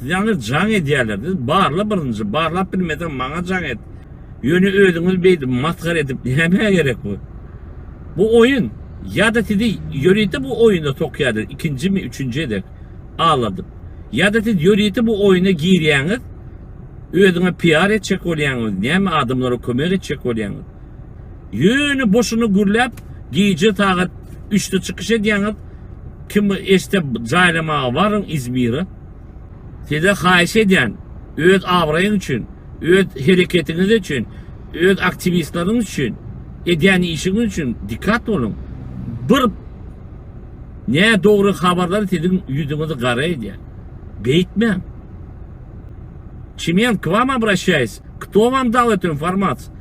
Sizaňa jaň edýärler. Siz barla birinji. Barlap bilmeseň maňa jaň et. Ýöne özüňiz beýdip masgara edip nämä gerek bu? Bu oýun. Ýa-da sizi ýörite bu oýuna sokýarlar ikinjimi, üçünji gezek aldadyp. Ýa-da siz ýörite bu oýuna girýäňiz, özüňe PR etjek bolýaňyz, näme adamlara kömek etjek bolýaňyz. Ýöne boşuna gürläp, gije sagat üçde çykyş edýäňiz, kim eşde jaýlamaga baryň Izmire. Size haýyş edýän, öz abraýyň üçin, öz hereketiňiz üçin, öz aktiwistleriňiz üçin, edýän işiňiz üçin dikat boluň. Bir nädogry habarlar siziň ýüzüňizi gara edýär. Beýtmäň. Çimento, k wam obraşaýs, kto wam dal etu informaciýu?